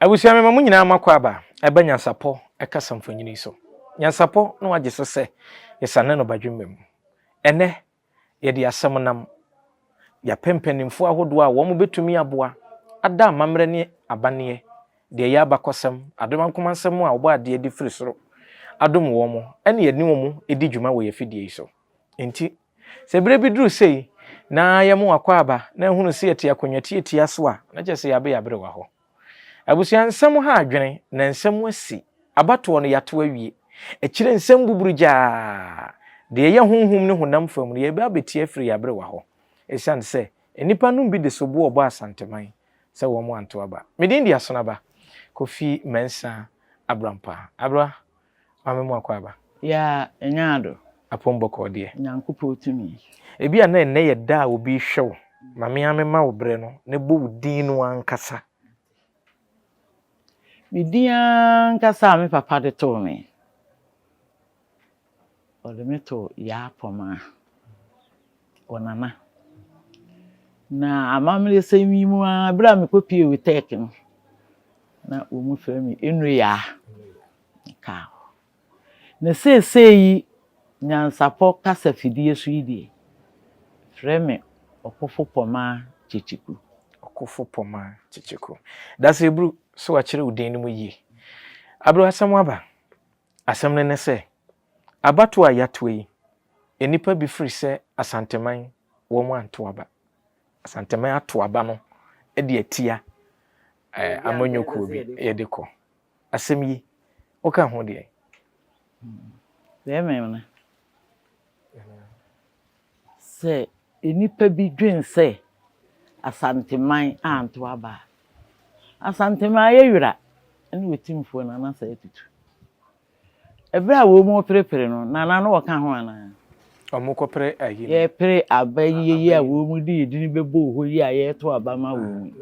Abusua mema mo nyinaa makɔ aba ɛba nyansapɔ ɛkasa mfonyini yi so. Nyansapɔ na wagye so sɛ yɛsane no badwemma mu. Ɛnɛ yɛde asɛm nam yɛapɛ mpanimfoɔ ahodoɔ a wɔn bɛtumi aboa ada amammerɛ ne abanneɛ, deɛ ɛyɛ abakɔsɛm, Adoma Nkoma Nsɛm a Ɔbɔ Adeɛ de firi soro adom wɔn ɛne yɛne wɔn di dwuma wɔ yɛn afidie yi so. Enti Sɛ bere bi duru sei na yɛmo akwaaba na ahunu se yɛte akonnwa tiatia so a, na kyerɛ sɛ yɛabe yɛabere wɔ hɔ. Abusua nsɛm ha adwene, na nsɛm asi. Abatoɔ no yɛato awie. Akyire nsɛm buburugyaa. Deɛ ɛyɛ honhom ne honam fam no, yɛreba abɛtie afiri yɛabere wɔ hɔ. Ɛsiane sɛ nnipa nom bi de soboɔ bɔ Asanteman sɛ wɔmo anto aba. Me din de Asonaba Kofi Mensah Abrampa. Abra Maame mu akwaaba. Yaa nyaa do. Apom bɔkɔɔ deɛ. Nyankopɔn tumi. Ebia na ɛnnɛ yɛ da a obi rehwɛ wo ma me ara me ma wo berɛ no na bɔ wo din no ankasa. Me din ankasa a me papa de too me. Ɔde me too Yaa Pɔmaa. wɔ Nana. Na amammerɛsɛm yi mu ara, bere a mekɔpuee WITEC no, na wɔfrɛ me Enuyaa. Mekaa hɔ. Na seesei yi, nyansapɔ kasa afidie so yi deɛ, frɛ me Ɔkofo Pomaa Kyekyeku. Ɔkofo Pomaa Kyekyeku. Dase Bru, so wɔakyere wo din no mu yie? Abreu, asɛm aba. Asɛm no ne sɛ, Abatoɔ a yɛatoa yi, nnipa bi firi sɛ Asanteman wɔn anto aba. Asanteman ato aba no de atia amanyɔkuo bi yɛde kɔ. Asɛm yi, woka ho deɛ? Deɛ mmɛm no, sɛ nnipa bi dwen sɛ Asanteman anto aba a, Asanteman ayɛ wira ne ɔtimfoɔ no anasa atutu. Ɛberɛ a wɔn mu reperepere no, na na wɔka ho anaa? Wɔkɔpere ayi no. Yɛrepere aba yi yɛ yi a wɔn mu de edin bɛbɔ hɔ yi a yɛreto aba ama wɔn yi.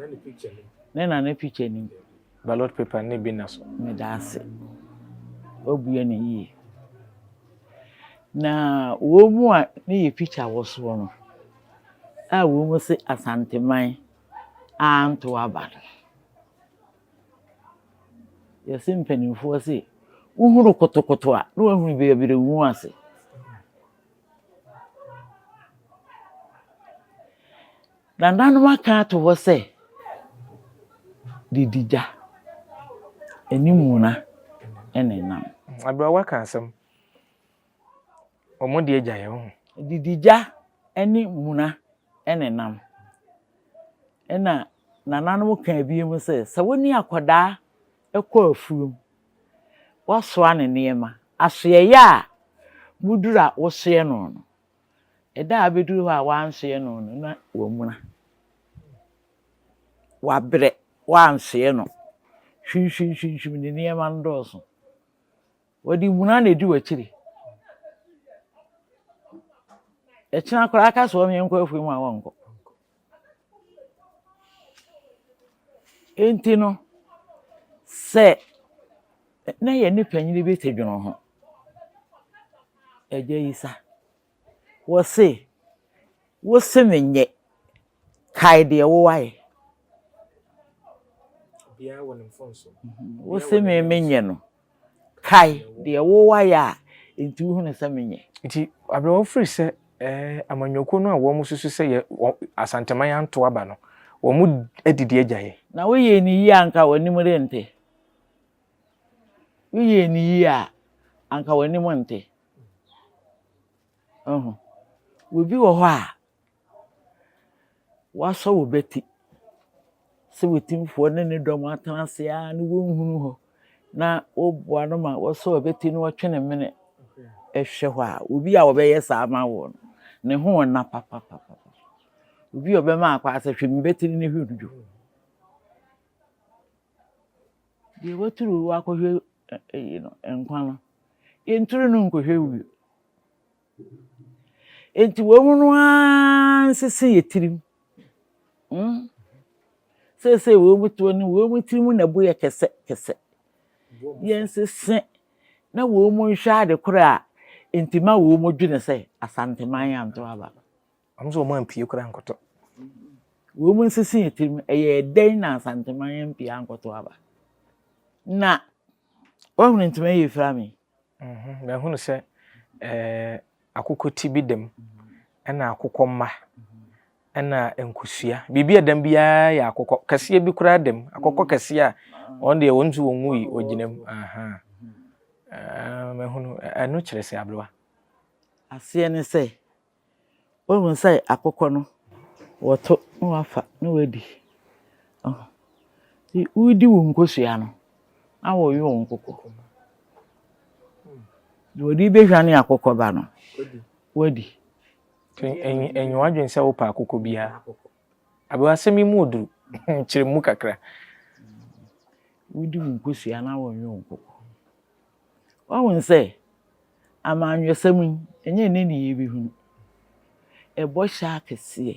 Ne na ne picture nim. Ballot paper ne bi na so. Meda ase. Wabue no yie. Na wɔn mu a ne yɛ picture wɔ soɔ no, a wɔn mu se Asanteman anto aba no. Yɛse mpaninfoɔ se wohunu kotokoto a na wahunu baabi de wo ho ase. Nananom aka ato hɔ sɛ didi gya ɛne muna ɛna ɛnam. Abrawa ka asɛm. Wɔn deɛ gya yɛ ho. Didi gya ne muna ne nam. Ɛna nananom kaa bi mu sɛ, sɛ wo ne akwadaa kɔ afuom, woasoa ne nneɛma, asoɛeɛ a moduru a wosoɛ no no, ɛda a abɛduru hɔ a woansoɛ no no na wamuna, wabrɛ, woansoɛ no, hwimhwimhwimhwim ne nneɛma no dɔɔso. Wɔde muna na edi w'akyiri. Ɛkyena koraa ka so wɔn yɛnkɔ afei mu a wɔnkɔ. Enti no, sɛ na yɛne panyin bi te dwono ho, Agya Yisa. Wɔse, Wo se menyɛ, kae deɛ wo ayɛ. Wo se me menyɛ no, kae deɛ wo ayɛ a nti wohunu sɛ menyɛ. Nti abrɛ wɔfiri sɛ amanyɔkuo no a wɔn susu sɛ yɛ asanteman anto aba no, wɔn adidi agya yɛ. Na woyɛ ne yie anka w'anim rente. Woyɛ ne yie a anka w'anim nte. Wohu? Obi wɔ hɔ a, wɔasɔ wo bati sɛ w'atumfoɔ ne ne dɔm atena ase ara na wonhunu hɔ na woboa no ma wɔsɔ abati na wɔtwe ne mene hwɛ hɔ a, obi a ɔbɛyɛ saa ama wo no, ne ho nna papapapa. Obi a ɔbɛma akɔ asɛ hwɛ me bati no ne hwɛ no dwo. Deɛ waturu wo akɔhwɛ Eyi no, nkwa no, yɛnturu no nkɔhwɛ wuo. Enti wɔn no ara nsese yɛ tirim. Hmm? Seesei wɔn toɔ no, wɔn tirim na ɛbo yɛ kɛsɛ kɛsɛ. Yɛnsese na wɔn nhwɛ ade korɔ a enti ma wɔn dwene sɛ asanteman anto aba. Wɔn nso wɔampue koraa ankɔtɔ. Wɔn nsisi yɛn tirim, ɛyɛɛ dɛn na Asantehene yɛn ampue ankɔtɔ aba? Na wɔahunu ntoma yi efira me. Mhm, na ahunu sɛ ɛɛ akokɔ ti bi dam, ɛna akokɔ mma, ɛna nkosua. Biribi a dam biara yɛ akokɔ kɛseɛ bi koraa dam, akokɔ mm. kɛseɛ a mm. wɔn deɛ wɔn nso wɔn mu yi wɔgyina mu. Mahunu ɛno kyerɛ sɛ aberewa. Aseɛ ne sɛ Woehu sɛ akokɔ no, wɔto na wɔafa na woedi. Ɔho. Ntsi woridi wo nkosua no, na wɔwe wo nkoko. Dza wɔdze behwan akokɔ ba no, woedi. Ntsi enye enye w'adwen sɛ wopɛ akokɔ biara. Aber asɛm yi mu odur, kyerɛ mu kakra. Woridi wo nkosua na wɔwe wo nkoko. Wahu no sɛ amanyɔsɛm yi, ɛnyɛ ne nneyɛɛ bi hunu. Ɛbɔ hyɛ akɛseɛ.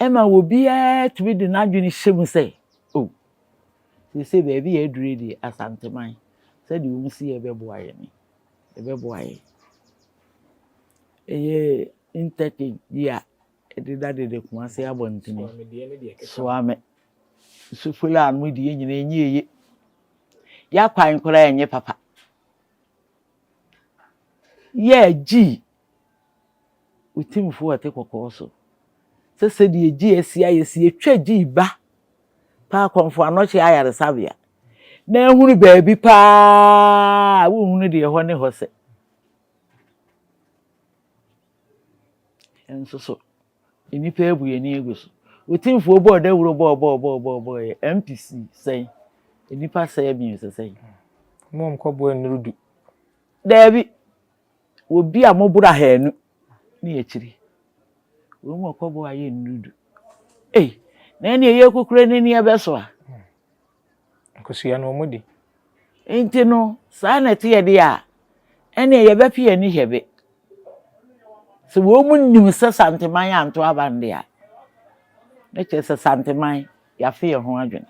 Ɛma obiara tumi de n'adwene hyɛ mu sɛ, o, seesei baabi a aduru yi deɛ, Asanteman, sɛdeɛ wɔsi yɛ bɛboa yɛn ni. Ɛbɛboa yɛn. Ɛyɛ interchange bi a Ɛdeda dede Kumase abɔntene. Soa me Sufrɛ a me deɛ nyina ɛnyɛ ɛye Yɛ kwan koraa ɛnyɛ papa Yɛ gyii wo timfoɔ ɔte kɔkɔɔ so Sɛ sɛdeɛ gyi asi ayɛ si ɛtwa gyii ba Pa akɔmfo anɔkye ayaresabea Na ahunu baabi paa a wonhunu deɛ ɛhɔ ne hɔ sɛ Nso so, nnipa abu yɛn ani agu so. Wo timfoɔ bɔɔ dawuro bɔɔbɔɔbɔɔbɔɔbɔɔyɛ MPC sɛn? Nnipa sɛe abiɛsa sɛn? Mo a mokɔboa nnuru du. Daabi, obi a moboro ahanu ne akyiri. Wɔn mu ɔkɔboa ayɛ nnuru du. Ei, na ɛnneɛ yɛkɔkura n'ani ɛbɛso a? Kosua no, wɔdi. Enti no, saa na ɛteɛ deɛ a, ɛnneɛ yɛbɛpe yɛn ani hwɛ be. Sɛ wɔnnim sɛ Santeman anto aba no deɛ a, na kyerɛ sɛ Santeman, yɛafe yɛn ho adwene.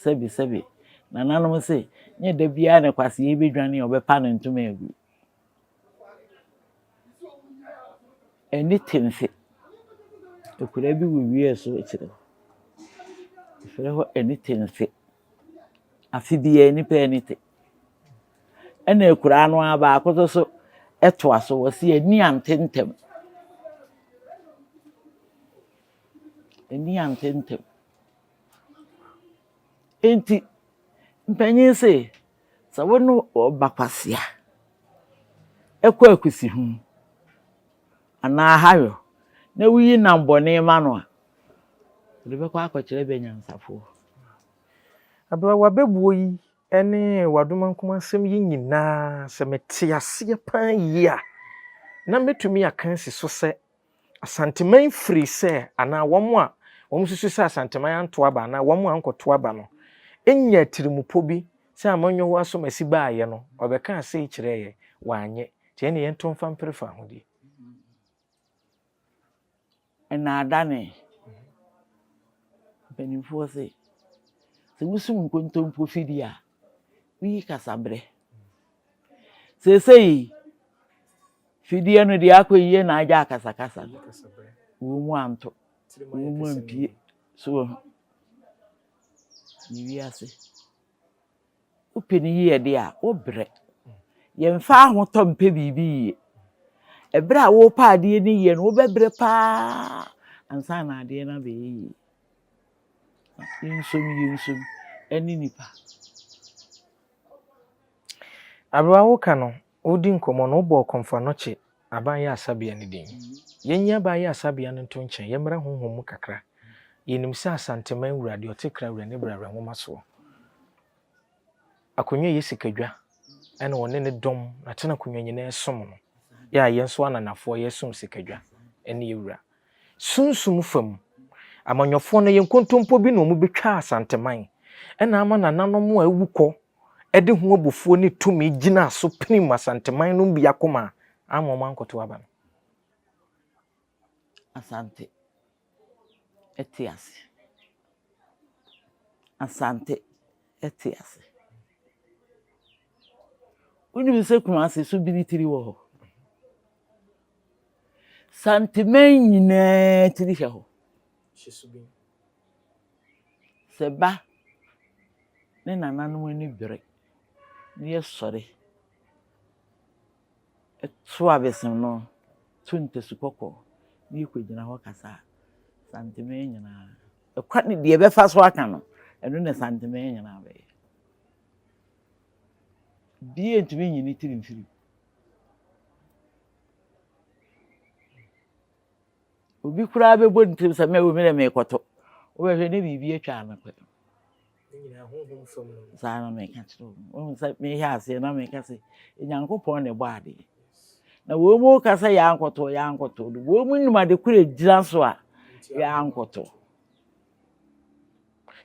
Sɛbesɛbe, nananom se, nyɛ da biara na kwasea yi bɛdwane a wɔbɛpa no ntoma agu. Ɛne temfe. Akwadaa bi wɔ wia so rekyerɛ. Wɔfrɛ hɔ ɛne temfe. Afe biara nnipa yɛ ɛne te. Ɛna akwadaa no ara baako no nso toa so, ɔse ani ante ntɛm. Ani ante ntɛm. Enti mpanyin se. Sɛ wo ne ɔba kwasea kɔ akusiho anaa ahayɔ na wuyi nam bɔne ma no a, ɔde bɛkɔ akɔkyerɛ bɛnyansafoɔ. Abeawa bɛbuo yi ne w'adomankum asɛm yi nyinaa, sɛ mete aseɛ paa yie a, na mɛtumi aka asi so sɛ Asanteman firi sɛ anaa wɔn a wɔsusu sɛ Asanteman anto aba anaa wɔn a ankɔto aba no nyaa atirimpɔ bi sɛ amanyɔhoɔ asɔmasi baeɛ no ɔbɛkaa sei kyerɛɛ yɛn, wanyɛ, nti ɛnneɛ yɛnto mfa mpere fahodie. Nnaadane, Mpanimfoɔ se, sɛ wosum nkontompo fidie a, woyi kasaberɛ Seesei fidie no deɛ akɔ yie na agya akasakasa no, wɔn mu anto, wɔn mu ampie so wɔ ho. Ne wiase. Wopɛ ne yie de a, wobrɛ. Yɛmfa ahotɔ mpɛ biribi yie. Ɛberɛ a wopɛ adeɛ no yie no, wobɛbrɛ paa ansa na adeɛ no abɛyɛ yie. Yɛnsom yɛnsom ɛne nipa. Aberɛ a woreka no, woredi nkɔmmɔ no, wobɔɔ kɔmfoa no kye aban yɛ asabea no din. Yɛnyi aban yɛ asabea no nto nkyɛn, yɛmmra honhom mu kakra. Yɛnim sɛ Asanteman wura, deɛ ɔte kra wura ne bra wura nwoma soɔ. Akonnwa yɛ sikadwa ɛna ɔne ne dɔm na tena akonnwa nyinaa som no. Yɛ a yɛn nso ananafoɔ yɛsom sikadwa ɛne yɛ wura. Sunsum fam, amanyɔfoɔ no yɛ nkontompo bi na wɔbɛtwa Asanteman, ɛna ama nananom a awu kɔ de ho abufuo ne tumi gyinaa so pirim Asanteman nom bi akoma a amma wɔankɔto aba no. Asante te ase. Asante te ase. Wonim sɛ Kumase so biri tiri wɔ hɔ? Santeman nyinaa tiri hwɛ hɔ. Sɛ ba ne nananom ani bere na yɛsɔre to abɛsen no, to ntasu kɔkɔɔ na yɛkɔgyina hɔ kasa a, Santeman nyinaa, ɛkwan, deɛ ɛbɛfa so aka no, ɛno na Santeman nyinaa bɛyɛ. Obiara ntumi nyi ne tiri mfiri mu. Obi koraa bɛbɔ ne tirim sɛ mɛwo me dɛ merekɔto. Wobɛhwɛ ne biribi atwa ano pɛ. Saa na meka kyerɛ wo. Wohu sɛ mehwɛ aseɛ na meka sɛ Nyankopɔn na ɛbɔ adeɛ. Na wɔn mu ka sɛ yɛankɔto, yɛankɔto. Wɔn mu nim ade koro a ɛgyina so a yɛankɔto.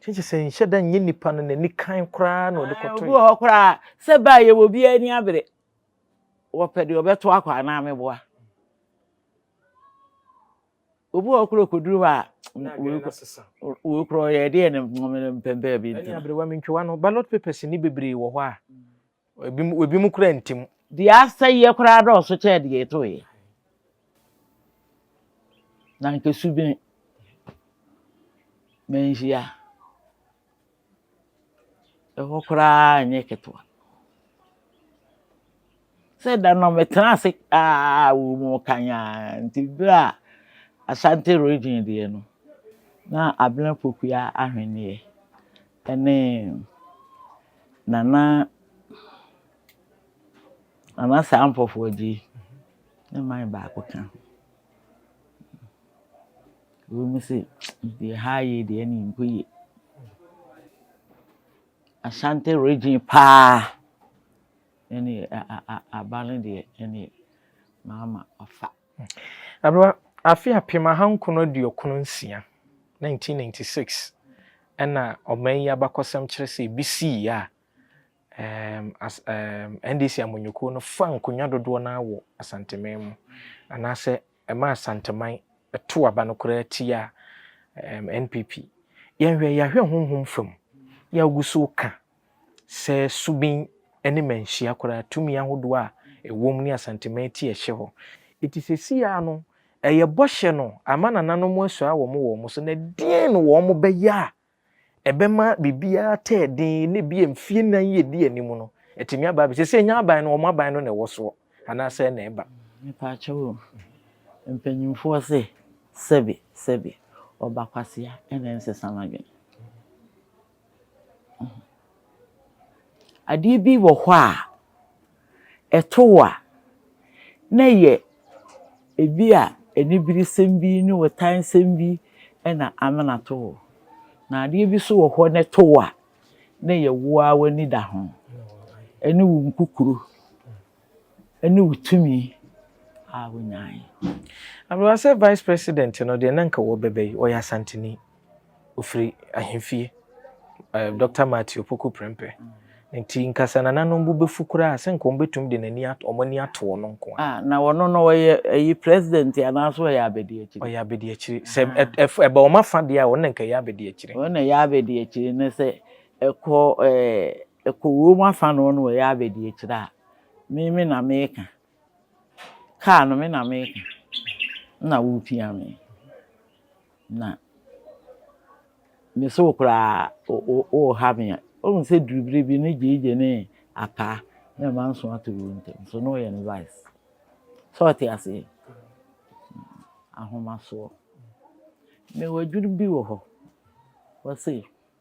Kyekye sɛ nhyɛ da nyɛ nipa no n'ani kann koraa na ɔde kɔtoe. Obi wɔ hɔ koraa sɛ baa yɛ wɔ biara ani abere. Wɔpɛ deɛ ɔbɛto akɔ anaa meboa. Obi wɔ hɔ koraa ɔkɔduru hɔ a wei koraa ɔyɛ deɛ ne mpɛmpɛɛ bi nti. Ɛne aberewa mentwiwa no ballot papers nni bebree wɔ hɔ a Ebinom kura ntim. Deɛ asɛeɛ koraa dɔɔso kyɛn deɛ ɛtoeɛ. Na anka su bɛn manhyia. Ɛhɔ koraa nyɛ ketewa. Sɛ da no metena ase aa wɔ mu kanyaa nti berɛ a Asante region deɛ no na Abena Pokuaa ahwenneɛ Ɛne Nana Nana saa mpɔfoɔ agye yi ne mine baako ka ho. Wei mu se deɛ ha yie deɛ ɛne mpo yie. Ashanti region paa ɛne a a a aba no deɛ ɛne maama ɔfa. Aberwa, afe apem ahankron aduokron nsia, 1996, na ɔman yi abakɔsɛm kyerɛ sɛ ebi sii a NDC amanyɔkuo no faa nkonnwa dodoɔ no ara wɔ Asanteman mu, anaasɛ ɛmaa Asanteman too aba no koraa tiaa NPP. Yɛnhwɛ, yɛahwɛ honhom fam, yɛ a wogu so reka Sɛ Subin ne Manhyia koraa tumi ahodoɔ a ɛwom ne Asanteman ti a ɛhyɛ hɔ. Enti seesei ara no ɛyɛ bɔhyɛ no ama nananom asua wɔn wɔn so na deɛn na wɔn bɛyɛ a ɛbɛma biribiara tɛɛ den na ebia mfie nnan yi ɛdi anim no atumi aba abɛsi. Seesei ɛnyɛ aban no wɔn aban no na ɛwɔ soɔ anaa sɛn na ɛba? Mepaakyɛw o, mpanyinfoɔ se sɛbi sɛbi ɔba kwasea na ɛnsesa no adwene. Adeɛ bi wɔ hɔ a, ɛto wo a, na ɛyɛ ebi a aniberesɛm bi ne ɔtansɛm bi na amena ato wo. Na adeɛ bi nso wɔ hɔ no to wo a, na ɛyɛ wo ara w'ani da ho ne wo nkukuro. ne wo tumi a wonyae. Abewa sɛ vice president no deɛ na nka wɔbɛbɛ yi ɔyɛ asanteni ofiri ahemfie eh, Dr. Matthew Opoku Prempeh ne nti nkasa nananom bo bɛfu koraa sɛ nka wɔn bɛtumi de n'ani ato wɔn ani ato ɔno nko a. Ah, na wɔn no ɔyɛ ɛyi president anaasɛ ɔyɛ abɛdi akyire. Ɔyɛ abɛdi akyire sɛ ah. ɛba wɔn afa deɛ a wɔn na nka ɛyɛ abɛdi akyire. Wɔn na ɛyɛ abɛdi akyire ne sɛ ɛkɔ ɛɛ. Eh, Ɛkɔ wura mu afa noɔ na ɔyɛ abɛdiakyire a, me me na meka. Kaa no me na meka. Ɛna wopia me. Na me se wo koraa woha me. Wohu sɛ duru berɛ bi ne Gyegye ne Apaa ne ɛma nso ato wɔn ntam. So na ɔyɛ ne vice. Sɛ ɔte aseɛ? Ahomasoɔ. Mewɔ adwiri bi wɔ hɔ. Ɔse.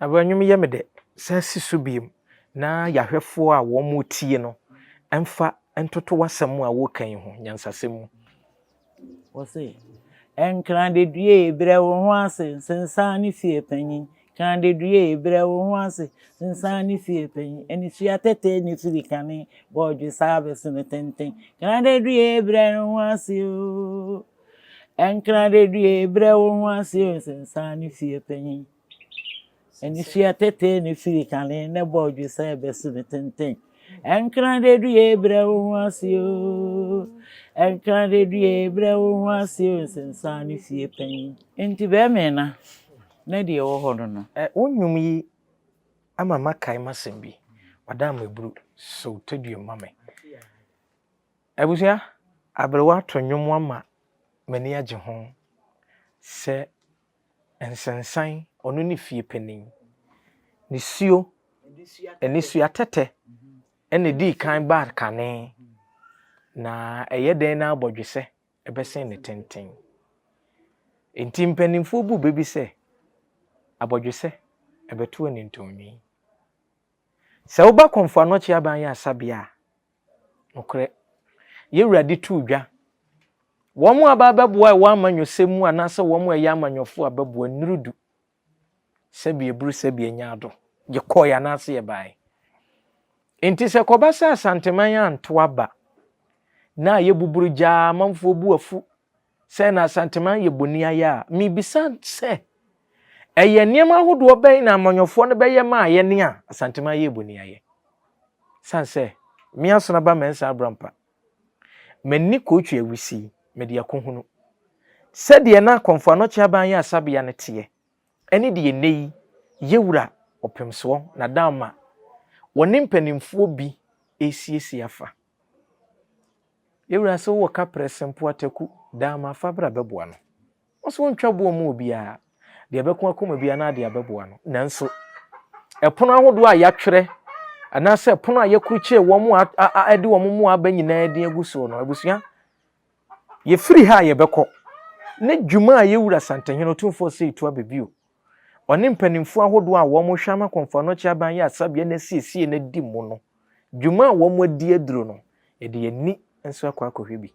Aberɛ nnwom yɛ me dɛ. San si so bio na yɛahwɛfoɔ a wɔretie no mfa ntoto w'asɛm a woreka yi ho nyansasɛm mu. Wɔse, Nkradadua e, brɛ wo ho ase, nsensan ne fie panyin. Nkradadua e, brɛ wo ho ase, nsensan ne fie panyin. Anisua tɛtɛɛ ne firi kane, bɔɔdwe saa bɛso no tenten. Nkradadua e, brɛ wo ho ase o. Ɛnkra dadue brɛ wo ho ase o Sensan ne fie panyin ne fie atetee ne firi kane ne bɔ odwe sɛ ɛbɛso ne tenten Ɛnkra dadue brɛ wo ho ase o Ɛnkra dadue brɛ wo ho ase o Sensan ne fie panyin Enti bɛmena na deɛ ɛwɔ hɔ no no. Ɛ Wo nnwom yi ama makae m'asɛm bi, Ɔda mmaburu so tɔ dua ma me. Abusua aberewa to nnwom ama m'ani agye ho sɛ nsensan, ɔno ne fie panin. Nisuo, nnisua tɛtɛ na ɛdii kan baa kane, na ɛyɛ dɛn na abɔdwesɛ bɛsen ne tenten. Enti mpanimfoɔ bu bɛ bi sɛ, abɔdwesɛ bɛto anintɔnwii. Sɛ woba Komfo Anɔkye Aban Ayaresa Bea a, Nokorɛ, Yɛ Wura de too dwa, wɔn a aba abɛboa ɛwɔ amanyɔsɛm mu anaasɛ wɔn a ɛyɛ amanyɔfoɔ abɛboa nnuru du, sɛdeɛ ɛburu sɛdeɛ ɛnya ado, yɛkɔɔɛ anaasɛ yɛbaaɛ. Enti sɛ ɛkɔba sɛ Asanteman anto aba, na yɛbuburu gyaa amanfoɔ bo afu, sɛ na Asanteman yɛ boniayɛ a, mibisa sɛ, ɛyɛ nneɛma ahodoɔ bɛn na amanyɔfoɔ no bɛyɛ ma a yɛne a Asanteman yɛ boniayɛ? San sɛ, me Asonaba Mensah Abrampa, m'ani kootwi awisi, mede akohunu, sɛdeɛ na Kɔmfo Anɔkye Aban Yɛ Asabea no teɛ, ɛne deɛ nnɛ yi Yɛwura Ɔpemsoɔ Nadamma ɔne mpanimfoɔ bi resiesie afa. Yɛ wura se wowɔ kaprɛ se mpoa taku daa ma fa bra bɛboa no. Ɔse wontwa boɔ mu obiara. Deɛ ɛbɛko akoma biara no adeɛ abɛboa no. Nanso ɛpono ahodoɔ a yɛatwerɛ anaasɛ ɛpono a yɛkrukyire wɔn a ɛde wɔn mmoa aba nyinaa din agu soɔ no, abusua, yɛfiri ha a yɛbɛkɔ ne dwuma a yɛwura Santehene Otumfoɔ Osei Tuah Bebio Ɔne mpanimfoɔ ahodoɔ a wɔrehwɛ ama Komfo-Anokye Aban Yɛ Asabea no asiesie no adi mu no, dwuma a wɔadi aduru no, yɛde yɛn ani nso akɔ akɔhwɛ bi.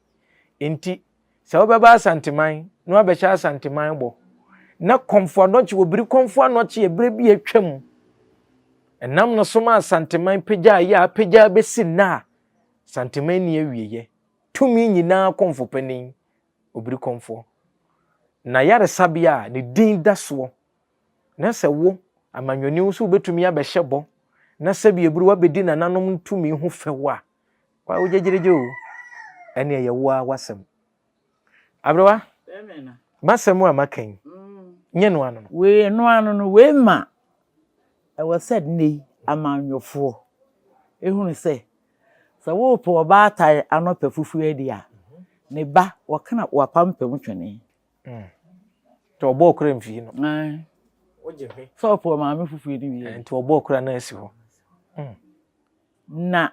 Enti, sɛ wobɛba Asanteman na woabɛhyɛ Asanteman bɔ, na Komfo-Anokye wɔ biri Komfo-Anokye yɛ berɛ bi a atwam, ɛnam no so ma Asanteman pagyaeɛ a apagya abɛsi nnɛ a, Asanteman nni awieeɛ, tumi nyinaa Komfo Panin obirikɔmfoɔ. Na yaresabea a ne din da soɔ, na sɛ wo, amanyɔni wo nso wobɛtumi abɛhyɛ bɔ na sɛbi ɛburu wabɛdi nananom ntumi ho fɛw a, wa wo gyegyeregye o, ɛne ɛyɛ wo ara w'asɛm. Aberewa, m'asɛm a maka yi, nyɛ no ano no. Wei, ɛno ano no, wei ma ɛwɔ sɛ nnɛ yi amanyɔfoɔ ɛhunu sɛ Sɛ worepo ɔbaatan ano pɛ fufuo adi a, ne ba, wɔkena w'apampam twene. Nti ɔbɔ okura mfii no. Ae. Wogye hwe. Sɛ ɔpo ɔmaame fufuo no wie. Nti ɔbɔ okura no asi hɔ. Na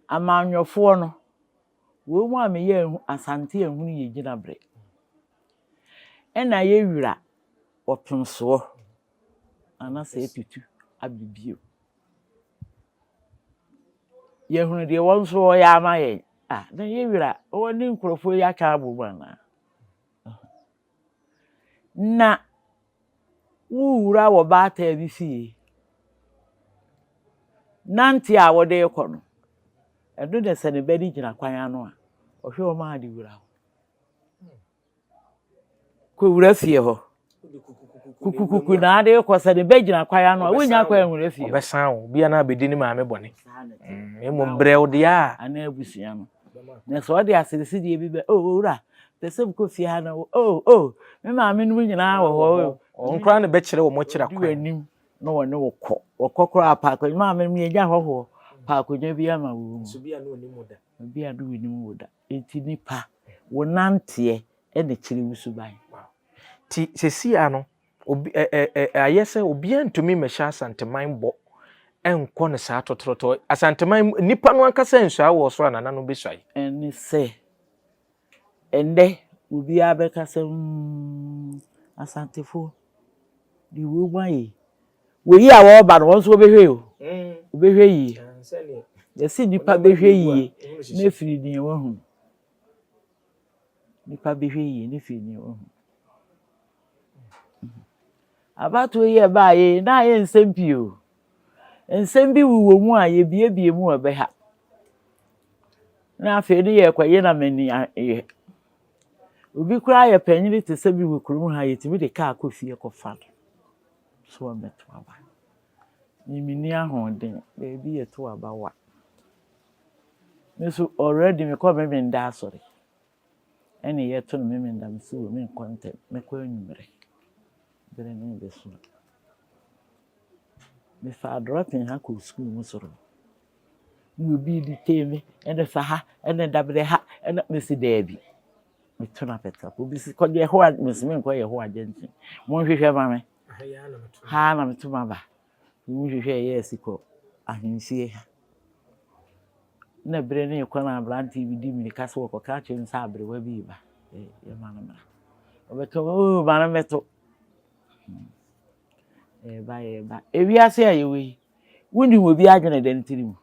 amanyɔfoɔ no, wei mu a meyɛ Asante ahunu yɛ gyinabre. Ɛna yɛ wira ɔpemsoɔ, anasɛ ɛtutu abɛ bio. Yɛhunu deɛ wɔn nso wɔyɛ ama yɛn a na yɛ wura wɔn ne nkurɔfoɔ yi aka abɔ mu anaa na wowura wɔ baataa bi fie nante a wɔde rekɔ no ɛno na sɛ ne ba no gyina kwan ano a ɔhwɛ wɔn a de wura hɔ kowura fie hɔ. Kukukuku na ade kɔ sɛ ne bɛ gyina kwae ano a wonya kwae nwura fie. Ɔbɛsan wo bia na abɛdi ne maame bɔne. Mm, emu brɛ wo deɛ a. Ana abusua no. Na sɛ ɔde asirisi deɛ bi bɛ o owura pɛ sɛ mkɔ fie ha na o o me maame no nyinaa wɔ hɔ. Wɔn koraa na bɛkyerɛ wɔn akyira kwan. W'anim na wɔne wo kɔ. Wɔkɔ koraa paako maame no yɛgya hɔhoɔ paakonwa bi ama wo. Nso bia na onim wo da. Bia na onim wo da. Enti nipa, wo nanteɛ na kyere wo suban. Nti sesei ara no, obi ɛ ɛ ɛ ayɛ sɛ obiara ntumi mmɛhyɛ Asanteman bɔ nkɔ no saa tɔtrɔtɔ. Asanteman mu, nnipa no ankasa nsuae wɔ ɔsoro a nananom bɛsuae. Ɛne sɛ, ɛnnɛ obiara bɛka sɛ, Umm, Asantefoɔ, deɛ wei mu ayɛ yi, Wei a wɔreba no, wɔn nso wɔbɛhwɛ o. Wɔbɛhwɛ yie. Yɛse nnipa bɛhwɛ yie na afiri deɛ wɔahu. Nnipa bɛhwɛ yie na afiri deɛ wɔahu. Abatoɔ yi a ɛbaeɛ yi, na ayɛ nsɛm pii o. Nsɛm bi wowɔ mu a yɛbiebie mu a ɛbɛha. Na afei ne yɛrekɔyɛ na m'ani ayɛ. Obi koraa yɛ panyin te sɛ me wɔ kurom ha, yɛtumi de kaa kɔ fie kɔfa no. So ɔbɛto aba? Me menni ahoɔden, baabi yɛ to aba wa. Me nso already mekɔ Memenda asɔre. Ɛne yɛto no Memenda mesi wɔ menkɔ ntɛm, mɛkɔ anwummerɛ. Bere no bɛso. Mefa adrɔten ha kɔ sukuu mu soro. Na obi di tee me, ɛne fa ha, ɛne dabrɛ ha, ɛne mesi daabi. Meto no apɛtɛw. Obisi, kɔ Yehowa, mesi menkɔ Yehowa agya nkyɛn. Monhwehwɛ ma me. Ha ara na meto m'aba. Monhwehwɛ ɛyɛ asi kɔ ahemfie ha. Na bere no rekɔ na aberante bi di mmirika so wɔkɔka akyerɛ no sɛ aberewa bi reba. Yɛma no mmra. Ɔbɛka, oo, ma no mmɛto. Yɛba, hmm. yɛba. Ewiase a yɛwɔ yi, wonim obi adwene dɛm tirim.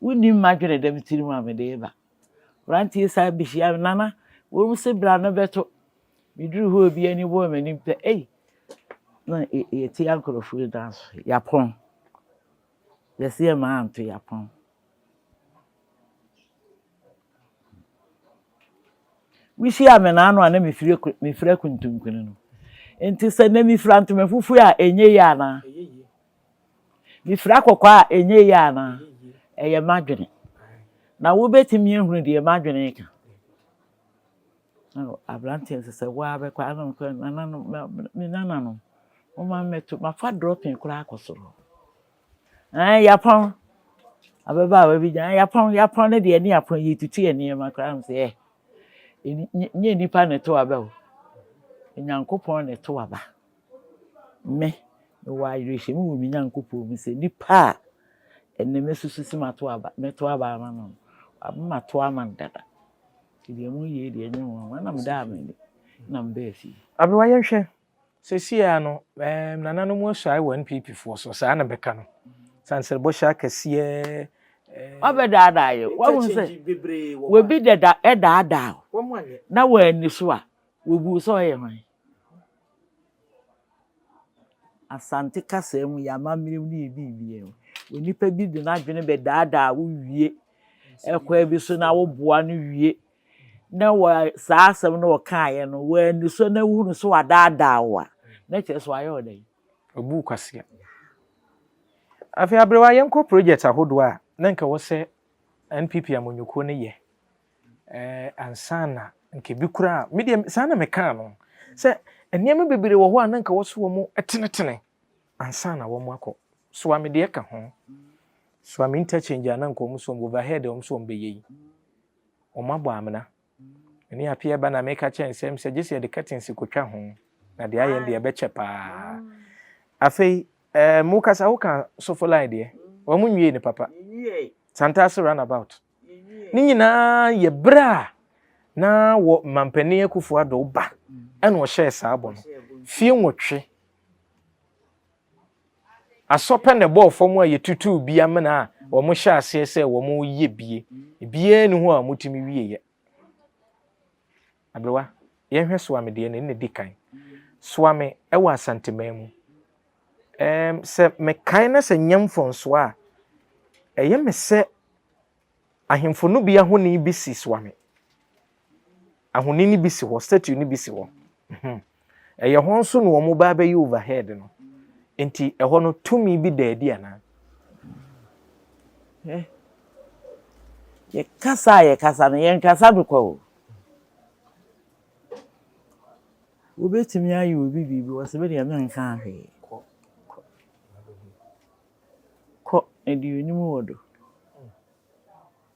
Wonim m'adwene dɛm tirim a mede reba. Mmeranteɛ san bɛhyiaa me, Nana, wɔn se bra no bɛto. Meduruu hɔ a obiara ani bɔɔ m'anim pɛ, ei, na yɛatia nkurɔfoɔ yi dan so, yɛapɔn. Yɛse yɛmma anto, yɛapɔn. Wohyiaa me naano a na mefira kuntunkuni no. Nti sɛ nnɛ mefira ntoma fufuo a, ɛnyɛ yie anaa? Mifira kɔkɔɔ a, ɛnyɛ yie anaa? Ɛyɛ m'adwene. Na wobɛtumi ahunu deɛ m'adwene reka. Aberanteɛ sɛ sɛ woa bɛkɔ a, ɛna ɔka, nananom, me nananom, momma mmɛto, mafa dropping koraa akɔ soro. Ɛɛ, Yapɔn, ababaawa bi gyina, Yapɔn, Yapɔn no deɛ ne Yapɔn yi tutu yɛ nneɛma koraa, m sɛ, ɛɛ, nyɛ nnipa na ɛto aba o, Onyankopɔn na ɛto aba. Me, mewɔ awerɛhyɛmu wɔ me Nyankopɔn mu sɛ nipa a ɛnnɛ masusu sɛ mato aba, mɛto aba ama no no, wama mato ama no dada. Nti deɛ moyɛ yi deɛ ɛnyɛ nwanwa na medaa m'ani na mebaa fie. Abewa yɛnhwɛ, seesei ara no ɛɛm nananom asuae wɔ NPP foɔ so, saa na bɛka no, sansrɛbɔhyɛ akɛseɛ ɛɛm. Wabɛdaadaa yɛn, wahunu sɛ obi dada ɛdaadaa wo na wanni so a, wɔbuu wo sɛ ɔyɛ hwan? Asante kasa mu, yɛn amammerɛ mu no yɛ biribiara o. Onipa bi de n'adwene bɛdaadaa wo wie ɛkwan bi so na woboa no wie na wa saa asɛm no ɔkaeɛ no wanni so na wohunu so wadaadaa wo a na kyerɛ sɛ wayɛ wo dɛn? Wabu wo kwasea. Afei aberewa yɛnkɔ project ahodoɔ a na nka ɛwɔ sɛ NPP amanyɔkuo no yɛ. Ɛɛ ansaana nka ebi koraa me deɛ saa na mekaa no sɛ nneɛma bebree wɔ hɔ a na nka wɔso wɔn tenetene ansaana wɔn akɔ soa me deɛ ka ho soa me interchange a na nka wɔn so wɔn overhead a wɔn so wɔn bɛyɛ yi wɔn abɔ amena ɛne apia ba na meka kyɛn sɛ sɛ gye sɛ yɛde curtains kotwa ho na deɛ ayɛ deɛ ɛbɛkyɛ paa afei ɛɛ mo kasa ho ka sofo line deɛ wɔn nwie ne papa santaase runabout. ne nyinaa yɛ berɛ a na wɔ mampanin akufo adɔ ba ɛna ɔhyɛɛ saa bɔ no fie nwɔtwe asɔpɛ na ɛbɔɔ fam a yɛtutuu bi amena a wɔn hyɛ aseɛ sɛ wɔn yɛ bie biara ni hɔ a wɔtumi wieɛ Aberewa, yɛnhwɛ soa me deɛ na ɛnna di kan. Soa me wɔ Asanteman mu. Ɛɛm, sɛ mekae na sɛ nyɛ mfɔnsoɔ a, ɛyɛ me sɛ ahemfo no bi ahoni bi si soa me. Ahoni no bi si hɔ, statue no bi si hɔ. Ɛyɛ hɔ nso na wɔn ba bɛyɛ overhead no. Nti ɛhɔ no tumi bi da adi anaa? Hɛ. Yɛ kasa a yɛ kasa no yɛ nkasa no kwa o. Wobɛtumi ayɛ obi biribi wɔ sɛ bɛdeɛ me nka ahwee. Kɔ. Kɔ. Kɔ. Ɛdeɛ onim wɔ do.